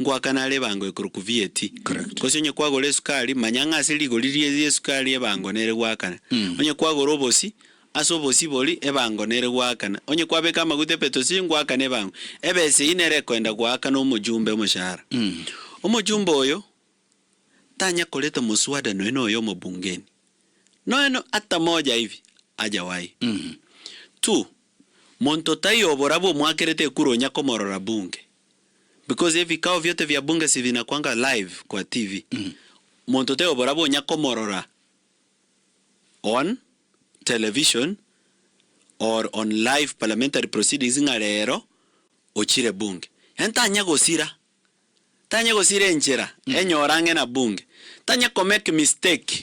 Ngoaka nare ebango ekorokwa vieti. Correct. Gose onye kwagora esukari, manya ng'a ase rigori rie ri'esukari ebango nere goakana. Onye kwagora obosi, ase obosi bori ebango nere goakana. Onye kwabeka amaguta epetosi, ngoakana ebango. Ebesa eyio nere ekoenda goakana omojumbe omoshahara. Omojumbe oyo tanya koreta moswada nonya na oyomo bungeni. Nonya na hata moja hivi hajawahi. Two, monto taiyo oborabwo mwakerete ekura onya komorora bunge. Because ebikao biote bia bunge sibinakwanga live kwa TV. Monto taiyo oborabwo onya komorora on television or on live parliamentary proceedings ng'a rero ochire bunge. Yaani tanya gosira, tanya gosira enchera enyora ang'e na bunge. Tanya komake mistake.